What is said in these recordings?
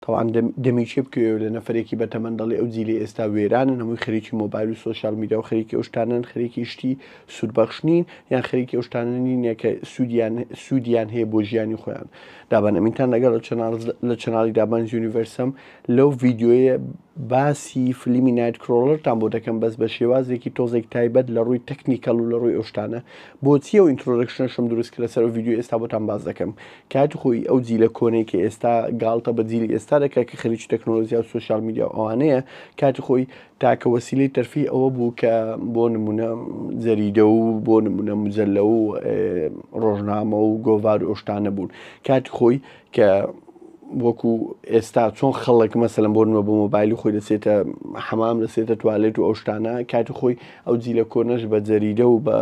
تەوان دەمی چێ بکەوێ لە نەفرێکی بەتەمەن دەڵی ئەو جیلی ئێستا وێرانن هەمووی خەریکی مۆبایل و سوۆشال میدیا و خەریکی ئەوشتانن خەریکی شتی سوودبەخشنین یان خەریکی ئەوشتانە نینە کە سوودیان سوودیان هەیە بۆ ژیانی خۆیان دابان ئەمینتان لەگەڵ لە چناڵ لە چناڵی دابان یونیڤەرسم لەو ڤیددیوەیە باسی فلیمی نایت کرۆڵرتان بۆ دەکەم بەس بە شێوازێکی تۆزێک تایبەت لە ڕووی تەکنیکەڵ و لە ڕووی ئەوشتانە بۆچیە و ئینترۆدەکشنشم دروست کە لەسەر ڤیددیو ئێستا بۆتان باز دەکەم کاتی خۆی ئەو جیلە کۆنەی کە ئێستا گاڵتە بە جیلی ئێستا دەکە کە خەریکی تەکنۆلۆژیا و سوسیال میدیا و ئەوانەیە کاتی خۆی تاکە وەسیلەی تەرفی ئەوە بوو کە بۆ نمونە جەریدە و بۆ نمونە مجللە و ڕۆژنامە و گۆڤار ئۆشتانە بوون کاتی خۆی کە وەکو ئێستا چۆن خەڵک مەسەلم بۆ نوە بۆ مۆبایلی خۆی دەسێتە حەمام دەسێتە توالێت و ئەو شتانە کاتی خۆی ئەو جیلە کۆنەش بە جەریدە و بە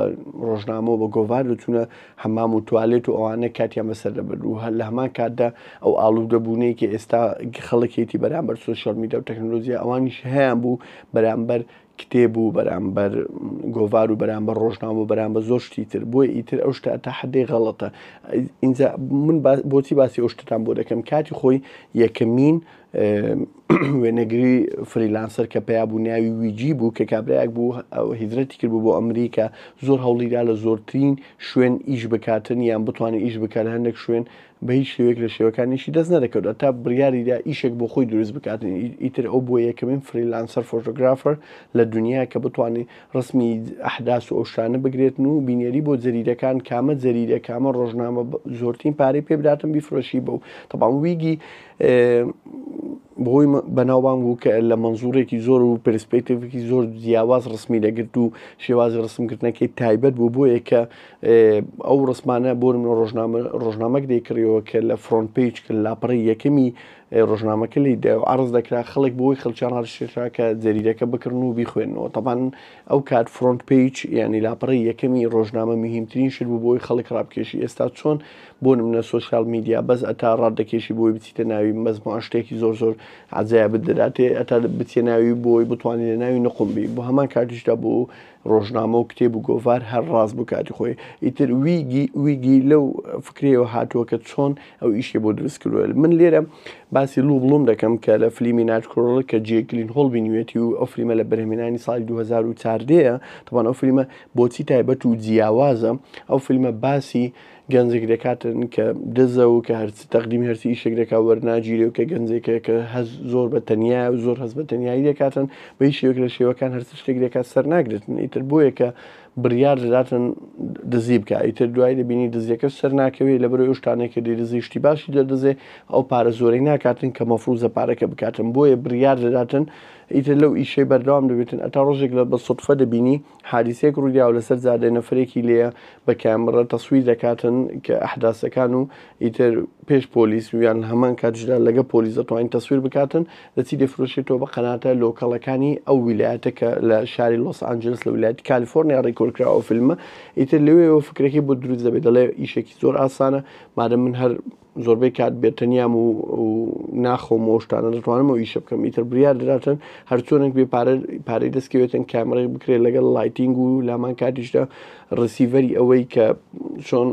ڕۆژنامەوە بە گۆڤار دەچوونە حەمام و توالێت و ئەوانە کاتیان بەسەر دەبەر و هەر لە هەمان کاتدا ئەو ئاڵوو دەبوونێکی ئێستا خەڵکێتی بەرامبەر سوۆشال میدا و تەکنۆلۆژیا ئەوانیش هەیان بوو بەرامبەر کتێب و بەرامبەر گۆڤار و بەرامبەر ڕۆژنامە و بەرامبەر زۆر شتی تر بۆی ئیتر ئەو شتە تا حدەی غەڵەتە ئینجا من بۆچی باسی ئەو شتتان بۆ دەکەم کاتی خۆی یەکەمین وێنەگری فریلانسەر کە پیا بوو ناوی ویجی بوو کە کابراەک بوو هیدرەتی کرد بوو بۆ ئەمریکا زۆر هەوڵیدا لە زۆرترین شوێن ئیش بکاتن یان بتوانێت ئیش بکات هەندێک شوێن بە هیچ شێوەیەک لە شێوەکانی ئیشی دەست نەدەکەوت، هەتا بڕیاری دا ئیشێک بۆ خۆی دروست بکات، ئیتر ئەو بووە یەکەمین فریلانسەر فۆتۆگرافەر لە دونیا کە بتوانێ ڕەسمی ئەحداس و ئەو شتانە بگرێتن و بینێری بۆ جەریدەکان کامە جەریدە کامە ڕۆژنامە زۆرترین پارەی پێ بداتن بیفرۆشی بەو تەبان ویگی بۆی بەناوبانگ بوو کە لە مەنزوڕێکی زۆر و پرسپێکتێکی زۆر جیاواز ڕسمی دەگرت و شێوازی ڕسمکردنەکەی تایبەت بوو بۆیە کە ئەو ڕسمانە بۆ نمونە ڕۆژنامە ڕۆژنامەک دەیکڕیەوە کە لە فرۆنت پێیج کە لاپەڕی یەکەمی ئێ، ڕۆژنامەکە لی دا و عەڕز دەکرا خەڵک بۆی خەڵکیان ڕادەشێنرا کە جەریدەکە بکڕن و بیخوێننەوە تەبان ئەو کات فرۆنت پێیج یانی لاپەڕی یەکەمی ڕۆژنامە میهیمترین شت بوو بۆی خەڵک ڕابکێشی ئێستا چۆن بۆ نمونە سۆشیال میدیا بەس ئەتا ڕات دەکێشی بۆی بچیتە ناوی مەزموعە شتێکی زۆر زۆر عەجایەبت دەداتێ ئەتا بچیە ناوی بۆی بتوانی لە ناوی نقوم بی بۆ هەمان کاتیشدا بۆ ڕۆژنامە و کتێب و گۆڤار هەر ڕاست بوو کاتی خۆی ئیتر ویگی ویگی لەو فکرەوە هاتووە کە چۆن ئەو ئیشی بۆ دروست کردوە من لێرە باسی لوو بڵوم دەکەم کە لە فلیمی ناچکۆڵ کە جێکلین هۆڵ بینوێتی و ئەو فلیمە لە بەرهمێنانی ساڵی 2014ەیە تەوان ئەو فلیمە بۆچی تایبەت و جیاوازە ئەو فیلمە باسی گەنجێک دەکاتن کە دزە و کە هەرچی تەقدیمی هەرچی ئیشێک دەکا وەرناگیرێ و کە گەنجێکە کە هەز زۆر بە تەنیا و زۆر هەز بە تەنایی دەکاتن بە هیچ شێوەک لە شێوەکان هەرچی شتێک دەکات سەر ناگرتن ئیتر بۆیە کە بڕیار دەداتن دزی بکە ئیتر دوای دەبینی دزیەکە سەر ناکەوێت لە بەرە شتانێکە دی دزی شتی باشی دەدزێ ئەو پارە زۆرەی ناکاتن کە مەفروزە پارەکە بکاتن بۆیە بڕیار دەداتن ئیتر لەو ئیشەی بەردەوام دەبێتن ئەتا ڕۆژێک لە بە سەدفە دەبینی حادیسەیەک ڕوویداوە لەسەر جادە نەفرێکی لێیە بە کامڕە تەسویر دەکاتن کە ئەحداسەکان و ئیتر پێش پۆلیس و یان هەمان کاتژدا لەگە پۆلیس دەتوانین تەسویر بکاتن دەچی دەفرۆشێتەوە بە قەناتە لۆکەڵەکانی ئەو ویلایەتە کە لە شاری لۆس ئانجلس لە ویلایەت کالیفۆرنیا ڕیکۆرکراوە فیلمە ئیتر لەوێەوە فکرەکەی بۆ دروست دەبێت دەڵێ ئیشێکی زۆر ئاسانە مادە من هەر زۆربەی کات بێتەنیام و ناخۆم و شتانە دەتوانم و ئیشە بکەم ئیتر بریار دراتن هەرچۆنێک بێ پارەی دەستکەوێتن کامڕێک بکرێت لەگەڵ لایتینگ و لامان کاتیشدا ڕسیڤەری ئەوەی کە چۆن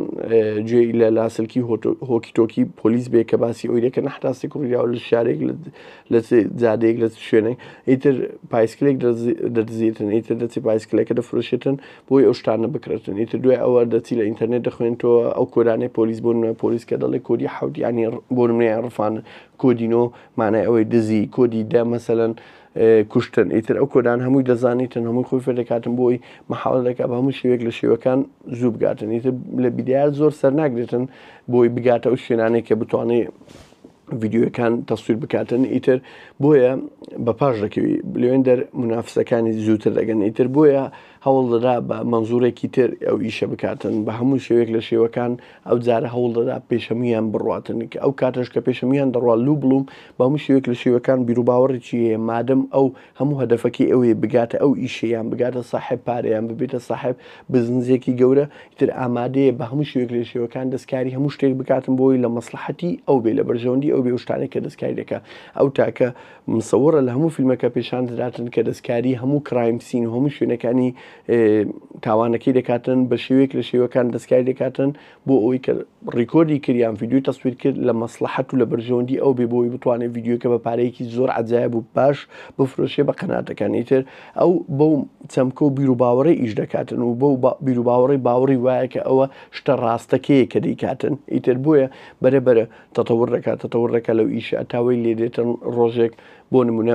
جێ لە لاسلکی هۆکی تۆکی پۆلیس بێ کە باسی ئەوی دەکەن حتاستی کوڕیاو لە شارێک لە زادێک لە شوێنێک ئیتر پایسکلێک دەدزیێتن ئیتر دەچی پایسکلەکە دەفرۆشێتن بۆی ئەو شتانە بکرێتن ئیتر دوای ئەوە دەچی لە ئینتەرنێت دەخوێنتەوە ئەو کۆرانەی پۆلیس بۆ نوێ پۆلیس کە دەڵێ کۆدی حوت ینی بۆ نوێ ڕفان کۆدینۆ مانای ئەوەی دزی کۆدی دە مەسەەن کوشتن ئیتر ئەو کۆدان هەمووی دەزانیتن هەمووی خۆی فێ دەکاتن بۆی مححاڵ دەکات بە هەموو شێوێک لە شێوەکان زوو بگاتن ئیتر لە بیدار زۆر سەرناگرێتن بۆی بگاتە ئەو شوێنانێک کە بتوانێت ڤیددیوەکان تەسویر بکاتن ئیتر بۆیە بە پاش دەکەوی لەوێن دەر منافسەکانی زووتر دەگەن ئیتر بۆیە هەوڵ دەدا بە مەنزورێکی تر ئەو ئیشە بکاتن بە هەموو شێوێک لە شێوەکان ئەو جارە هەوڵ دەدا پێشەمیان بڕاتن کە ئەو کاتەش کە پێشەمیان دەڕوا لوو بڵوم بە هەموو شێوێک لە شێوەکان بیرروباوەڕی چیە مادەم ئەو هەموو هەدەفەکەی ئەوەیە بگاتە ئەو ئیشە یان بگاتە ساحێب پارە یان ببێتە ساحێب بزنزێکی گەورە ئیتر ئامادەیە بە هەموو شێوەیەک لە شێوەکان دەستکاری هەموو شتێک بکاتن بۆی لە مەسڵەحەتی ئەو بێ لە بەرژەوەندی ئەو بێ و شتانێک کە دەستکاری دەکا ئەو تاکە مسەوڕە لە هەموو فیلمەکە پێشان دەداتن کە دەستکاری هەموو کرایم سین و هەموو شوێنەکانی تاوانەکەی دەکاتن بە شێوەیەک لە شێوەکان دەستکاری دەکاتن بۆ ئەوەی کە ڕیکۆردی کرد یان ڤیدیۆی تەسویر کرد لە مەسلحەت و لە بەرژەوەندی ئەو بێ بۆی بتوانێت ڤیدیۆکە بە پارەیەکی زۆر عجاایب و باش بفرۆشێ بە قەناتەکانی تر ئەو بەو چەمکە و بیر و باوەڕی ئیش دەکاتن و بەو بیر و باوەڕی باوەڕی وایە کە ئەوە شتە ڕاستەکەیە کە دەیکاتن ئیتر بۆیە بەرە بەرە تەتەور دەکات تەتەور دەکات لەو ئیشە تاوەی لێ دێتن ڕۆژێک بۆ نمونە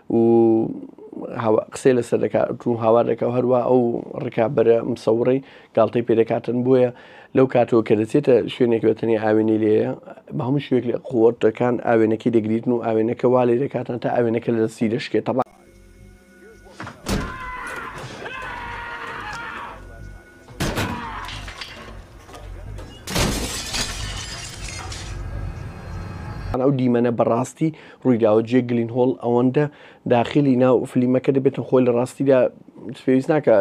و قسەی لەسەر دەکات و هاوار دەکە و هەروە ئەو ڕکابەرە مسەوڕی گاڵتەی پێدەکاتن بۆیە لەو کاتەوە کە دەچێتە شوێنێک بەتەنی ئاوێنەی لێە بە هەموو شوێک لە قوتەکان ئاوێنەکەی دەگریتن و ئاوێنەکە وا لێ دەکاتن تا ئاوێنەکە لە دەستی دەشکێت تەبا ئەو دیمەنە بەڕاستی ڕوویداوە جێ گلین هۆڵ ئەوەندە داخلی ناو فلیمەکە دەبێتن خۆی لە ڕاستیدا پێویست ناکە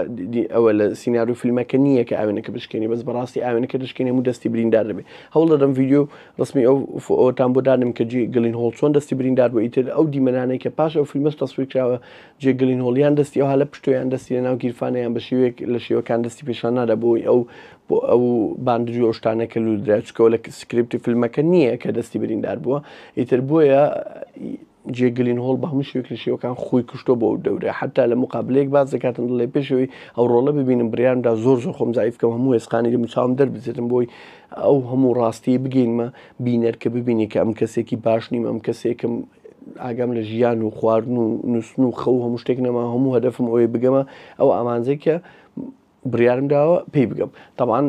ئەوە لە سینناروی فیلمەکە نییە کە ئاوێنەکە بشکێنی بەس بەڕاستی ئاوێنەکە دەشکێنێ و دەستی بریندار دەبێت هەوڵ دەدەم ویددیو ڕسمی ئەو ئەوتان بۆ دانم کە جی گلین هۆڵ چۆن دەستی بریندار بۆ ئیتر ئەو دیمەنانەی کە پاش ئەو فیلمەش تەسویر کراوە جێک گلینهۆڵ یان دەستی ئەوها لە پشتە یان دەستی لەناو گیرفانە یان بە شێوەیەک لە شێوەکان دەستی پێشان نادا بۆی ئەو بۆ ئەو باندجو ئەو شتانە کە لودرا چکەوە لە سکرپتی فیلمەکە نییە کە دەستی بریندار بووە ئیتر بۆیە جێ گلین هۆڵ بە هەموو شوێک لە شێوەکان خۆی کوشتۆ بۆ دەورە حتا لە مقابلەیەک باز دەکاتن دڵێ پێشەوەی ئەو ڕۆڵە ببینم بریاندا زۆر زۆر خۆم زیفکەم هەموو ێسقانی لە مچاوم دەربزێتم بۆی ئەو هەموو ڕاستی بگەینمە بینەر کە ببینی کە ئەم کەسێکی باش نیم ئەم کەسێکم ئاگام لە ژیان و خواردن و نووستن و خەو هەموو شتێک نەما هەموو هەدەفم ئەوەی بگەمە ئەو ئامانجەی کە بڕیارم داوە پێی بگەم طبعاان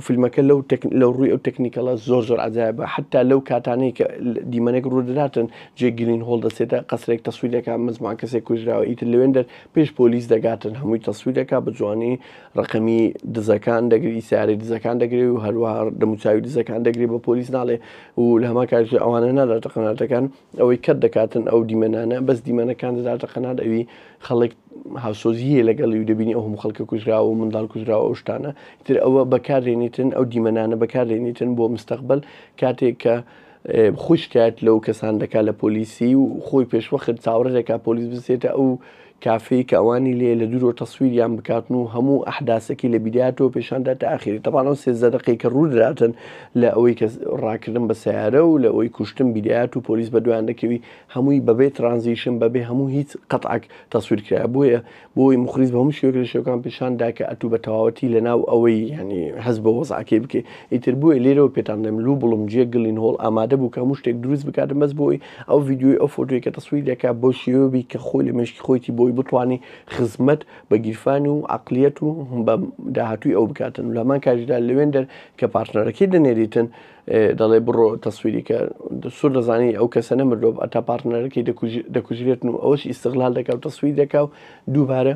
فیلمەکە لەو لەو ڕووی ئەو تەکنیکەڵە زۆر زۆر عجایبە حتا لەو کاتانەی کە دیمەنێک ڕوودراتن جێ گرین هۆڵ دەسێتە قەسرێک تەسویرەکە مزمان کەسێک کوژراوە ئیتر لەوێن دەر پێش پۆلیس دەگاتن هەمووی تەسویرەکە بە جوانی ڕقمی دزەکان دەگری سیارەی دزەکان دەگری و هەروە دەموچوی دزەکان دەگری بە پۆلیس ناڵێ و لە هەمان کاتیشدا ئەوانە ناداتە قەناتەکان ئەوەی کەت دەکاتن ئەو دیمەنانە بەس دیمەنەکان دەداتە قەنات ئەوی خەڵک هاوسۆزیە لەگەڵی و دەبینی ئەو هەموو خەڵکە کوژراوە و منداڵ کوژراوە ئەو شتانە تر ئەوە بەکارێنیتن ئەو دیمەنانە بەکارێنیتن بۆ مستەقبل کاتێک کە خۆی شکایت لەو کەسان دەکات لە پۆلیسی و خۆی پێشوەخت چاوەڕێ دەکات پۆلیس بسێتە ئەو کافی کە ئەوانی لێ لە دورۆ تەسویریان بکاتن و هەموو ئەحداسەکی لە بیدایەتەوە پێشان دا تا ئاخیری تەبان ئەو سێزدە دەقەی کە ڕوو دراتن لە ئەوەی کە ڕاکردن بە سەیارە و لە ئەوەی کوشتن بیدایەت و پۆلیس بە دوایان دەکەوی هەمووی بە بێ ترانزیشن بە بێ هەموو هیچ قەتعەک تەسویر کرایە بۆیە بۆی موخریس بە هەموو شێوەک لە شێوەکان پێشان دا کە ئەتوو بە تەواوەتی لە ناو ئەوەی یانی هەست بە وەزعەکەی بکەی ئیتر بۆیە لێرەوە پێتان دەم لوو بڵم جیە گلین هۆڵ ئامادە بوو کە هەموو شتێک دروست بکاتن بەس بۆی ئەو ڤیدیۆی ئەو فۆتۆی کە تەسویر دەکا بۆ شێوە بی کە خۆی لە مێشکی خۆیتی بۆی بتوانێ خزمەت بە گیرفان و عقلیەت و بە داهاتووی ئەو بکاتن لە هەمان کاژدا لەوێن دەر کە پارتنەرەکەی دەنێریتن دەڵێ بڕۆ تەسویری کە سوور دەزانی ئەو کەسە نەمردۆ ئەتا پارتنەرەکەی دەکوژرێتن و ئەوش ئیسغلال دەکا و تەسویر دەکا و دووبارە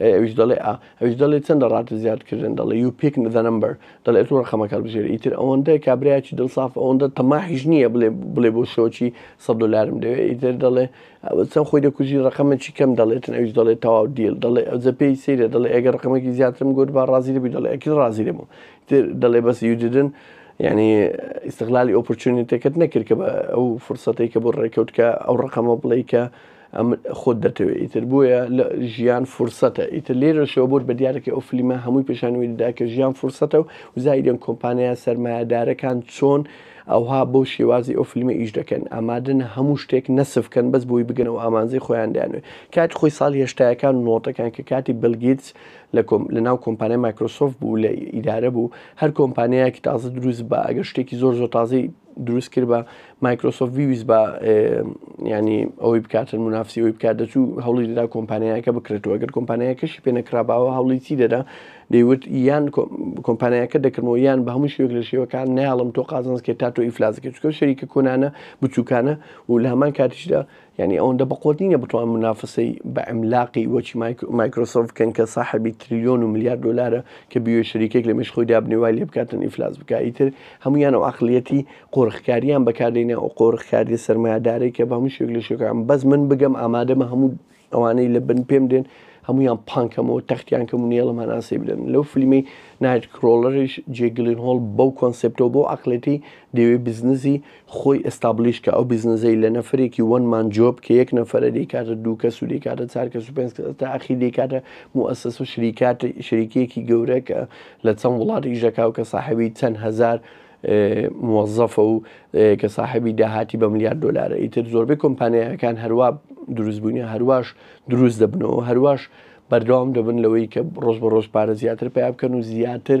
ئەی ئەویش دەڵێ ئا ئەویش دەڵێ چەندە ڕاتە زیاد کردن دەڵێ یو پیک ذە نەمبەر دەڵێ ئەتوو ڕەقەمەکە هەڵبژێری ئیتر ئەوەندە کابرایەکی دڵ ساف ئەوەندە تەماحیش نییە بڵێ بڵێ بۆ شۆکی سەد دۆلارم دەوێ ئیتر دەڵێ ئەوە چەند خۆی دەکوژی ڕەقەمێکی کەم دەڵێتن ئەویش دەڵێ تەواو دیل دەڵێ ئەوجە پێی سەیرە دەڵێ ئەگەر ڕەقەمێکی زیاترم گوت با ڕازی دەبی دەڵێ ئەکید ڕازی دەبم ئیتر دەڵێ بەس یو دیدن یعنی ئیستغلالی ئۆپۆرچونیتەکەت نەکرد کە بە ئەو فرسەتەی کە بۆ ڕێکەوت کە ئەو ڕەقەمە بڵێی کە ئەم خۆت دەتەوێ ئیتر بۆیە لە ژیان فرسەتە ئیتر لێرەشەوە بۆت بە دیارەکەی ئەو فلیمە هەمووی پیشانوی دەدا کە ژیان فرسەتە و زایدن کۆمپانیا سەرمایەدارەکان چۆن ئەوها بۆ شێوازی ئەو فلیمە ئیش دەکەن ئامادەن هەموو شتێک نەسف کەن بەس بۆی بگەن و ئامانزی خۆیان دەیانوێ کات خۆی ساڵی هێشتایەکان نۆتەکان کە کاتی بلگیتس لە لە ناو کۆمپانیای مایکرۆسۆف بوو لە ئیدارە بوو هەر کۆمپانیایەکی تازە دروست بە ئەگەر شتێکی زۆر زۆر تازەی دروست کرد بە مایکرۆسۆف ویویست بە ینی ئەوەی بکاتن منافسی ئەوی بکات دەچوو هەوڵی دەدا کۆمپانیایەکە بکرێتەوە ئەگەر کۆمپانیایەکەشی پێ نەکراباوە هەوڵی چی دەدا دەیوت یان کۆمپانیایەکە دەکردەوە یان بە هەموو شوێک لە شێوەکان ناڵم تۆ قازانسکێت تا تۆ ئیفلازکە چکە شەریکە کۆنانە بچووکانە و لە هەمان کاتیشدا یانی ئەوەندە بەقوەت نینە بتوان منافەسەی بە عملاقی وەکی مایکرۆسۆف بکەن کە ساحەبی تریلیۆن و ملیار دۆلارە کە بیوێ شەریکێک لە مێش خۆی دابنێ وای لێ بکاتن ئیفلاس بکا ئیتر هەموویان ئەو عەقڵیەتی قۆرخکاریان بەکاردێنێ ئەو قۆرخکاریە سەرمایەدارەی کە بە هەموو شوێک لە شوێکان بەس من بگەم ئامادەمە هەموو ئەوانەی لە بن پێم دێن هەمویان پانکەمەوە تەختیان کەم و نێڵەمان ئاسی بدەن لەو فلیمەی نایت کرۆڵەرش جێگلین هۆڵ بەو کۆنسپتەوە بۆ عقلێتی دەوێ بزنزی خۆی ئێستابلیش کە ئەو بیزنەزەی لە نەفەرێکی وەن مان جۆب کە یەک نەفەرە دەیکاتە دوو کەس و دەیکاتە چار کەس و پێنج کەس تا ئەخیر دەیکاتە موئەسەسە و شریکات شریکیەکی گەورە کە لە چەند وڵات ئیش دەکا و کە ساحەبی چەند هەزار موەزەفە و کە ساحەبی داهاتی بە ملیار دۆلارە ئیتر زۆربەی کۆمپانیایەکان هەروا دروست بوونی هەرواش دروست دەبنەوە هەرواش بەردەوام دەبن لەوەی کە ڕۆژ بە ڕۆژ پارە زیاتر پیا بکەن و زیاتر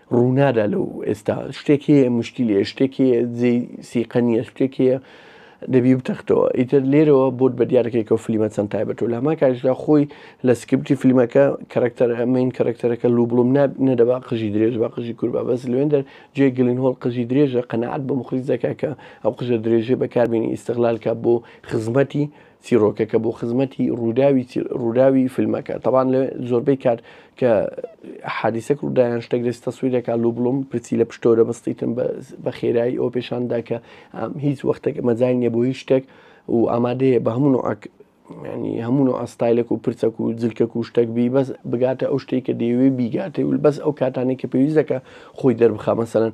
ڕوونادا لەو ئێستا شتێک هەیە مشکل هەیە شتێک هەیە جێی سیقە نییە شتێک هەیە دەبی بتەختەوە ئیتر لێرەوە بۆت بە دیارەکەیکە و فلیمە چەند تایبەت و لاما کاژدا خۆی لە سکرپتی فلیمەکە کەرەکتەر ئەمین کەرەکتەرەکە لوو بڵم نەدەبا قژی درێژ بە قژی کوربە بەس لوێندەر جێ گلین هۆڵ قژی درێژە قەنەعات بە مخلیس دەکە کە ئەو قژە درێژێ بەکاربیێنی ئیسەغلالکە بۆ خزمەتی چیڕۆکەکە بۆ خزمەتی ڕووداوی ڕووداوی فیلمەکە تەوان لە زۆربەی کات کە حادیسەک ڕوودایان شتێک دەست تەسویرەکە لو بڵم پرسی لە پشتۆرە بەستیتم بە خێرایی ئەو پێشاندا کە هیچ وەختێک مەزای نیە بۆ هیچ شتێک و ئامادەیە بە هەموو عک ینی هەموو و ئاستایلەک و پرچەک و جلکەک و شتێک بی بەس بگاتە ئەو شتێک کە دەیەوێ بیگاتێ و بەس ئەو کاتانی کە پێویستەکە خۆی دەربخە مەسەرەن